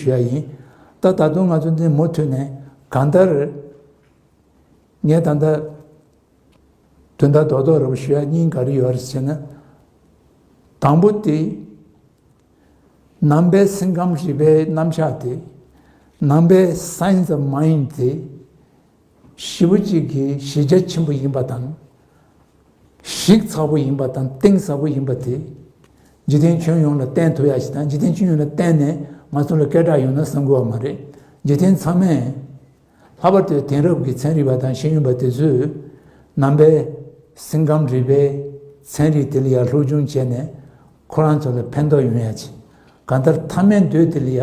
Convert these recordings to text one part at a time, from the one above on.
ཞུ་ཡ་ཡིན། ད་ད་དུང་ང་ཚོ་འདི་མུ་མཐུད་ནས་གང་ལྟར། ངས་ད་ལྟ། དོན་དག་རྡོག་རྡོག་རེ་བོ་ཞུ་ཡ་སྙིང་ག་རེ་ཡོད་རེད་ཟེར་ན། དང་པོ་དེ། ནང་པའི་སེམས་ཁམས་རིག་པའི་རྣམ་གཞག་དེ། ནང་པའི Science of Mind དེ། བཞི་བོ་གཅིག་གིས་གཞི་རྒྱ་ཆེན་པོ་ཡིན་པ་དང། གཞིག་ཚགས་པོ་ཡིན་པ་དང་གཏིང་ཟབ་པོ་ཡིན་པ་དེ། འཇིག་རྟེན་ཁྱོན་ཡོངས་ལ་བསྟན་ཐུབ་ཡག་ཞིག་དང་འཇིག་རྟེན་ཁྱོན་ཡོངས་ལ་བསྟན་ནས་ང་ཚོ་ལ་སྐད་གྲགས་ཡོང་ན་བསམ་དགོས་བ་མ་རེད། འཇིག་རྟེན་ཚང་མས། ལྷག་པར་དུ་དེང་རབས་ཀྱི་ཚན་རིག་པ་དང་ཤེས་ཡོན་པ་དེ་ཚོས། ནང་པའི། སེམས་ཁམས་རིག་པའི། ཚན་རིག་དེ་ལ་ཡར་ལྷོ་ཅུང་བྱས་ནས། ཁོ་རང་ཚོ་ལ་ཕན་ཐོགས་ཡོང་ཡག་ཅིག། གང་ལྟར་མཐའ་མའི་འདོད་དེ་ལ་ཡ།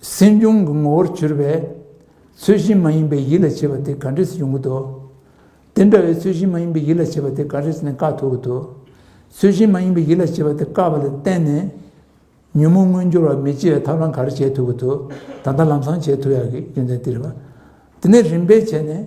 སེམས་བྱུང་གི་ངོ་བོར་གྱུར་པས། ཚུལ་བཞིན་མ་ཡིན་པའི་ཡིད་ལ་བྱེད་པ་དེ་ག་འདྲེས་ཡོང་གི་འདུག། དེ་འདྲ་བའི་ཚུལ་བཞིན་མ་ཡིན་པའི་ཡིད་ལ་བྱེད་པ་དེ་ག་འདྲེས་ནས་དཀའ་ཐུབ་ཀྱི་འདུག། ཚུལ་བཞིན་མ་ཡིན་པའི་ཡིད་ལ་བྱེད་པ་དེ་དཀའ་བ་ལ་བརྟེན་ནས། ཉོན་མོངས་མངོན་འགྱུར་བ་མི་སྐྱེ་བའི་ཐབས་ལམ་ག་རེ་བྱེད་ཐུབ་ཀྱི་འདུག་ད་ལྟ་ལམ་སང་བྱེད་ཐུབ་ཡག་གི་རྒྱུ་མཚན་དེ་རེད། དེ་ནས་རིམ་པས་བྱས་ནས།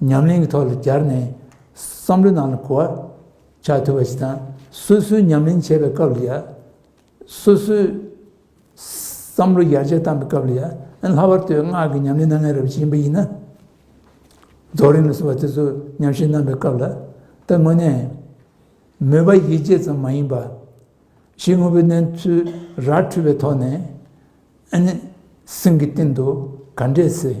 ཉམས་ལེན་གྱི་ཐོག་ལ་སྦྱར་ནས་བསམ་བློའི་ནང་ལ་གོ་བ་ཆགས་ཐུབ་པ་ཞིག་དང་སོ་སོའི་ཉམས་ལེན་བྱེད་པའི་སྐབས་ལ་ཡང་སོ་སོའི་བསམ་བློ་ཡར་རྒྱས་བཏང་པའི་སྐབས་ལ་ཡང་ལྷག་པར་དུ་སྔགས་ཀྱི་ཉམས་ལེན་སྣ་ལྔའི་རབ་བྱེད་ཡིན་པ་ཡིན་ན་རྫོགས་རིམ་ལ་སོགས་པ་དེ་ཚོ་ཉམས་བཞེས་གནང་བའི་སྐབས་ལ་ད་དངོས་གནས་མོས་པ་ཡིད་ཆེས་ཙམ་མ་ཡིན་པར་ཕྱིའི་དངོས་པོའི་གནས་ཚུལ་ར་འཕྲོད་པའི་ཐོག་ནས་ཨ་ནི་སེམས་ཀྱི་སྟེང་དུ་ག་འདྲས་ཟེར།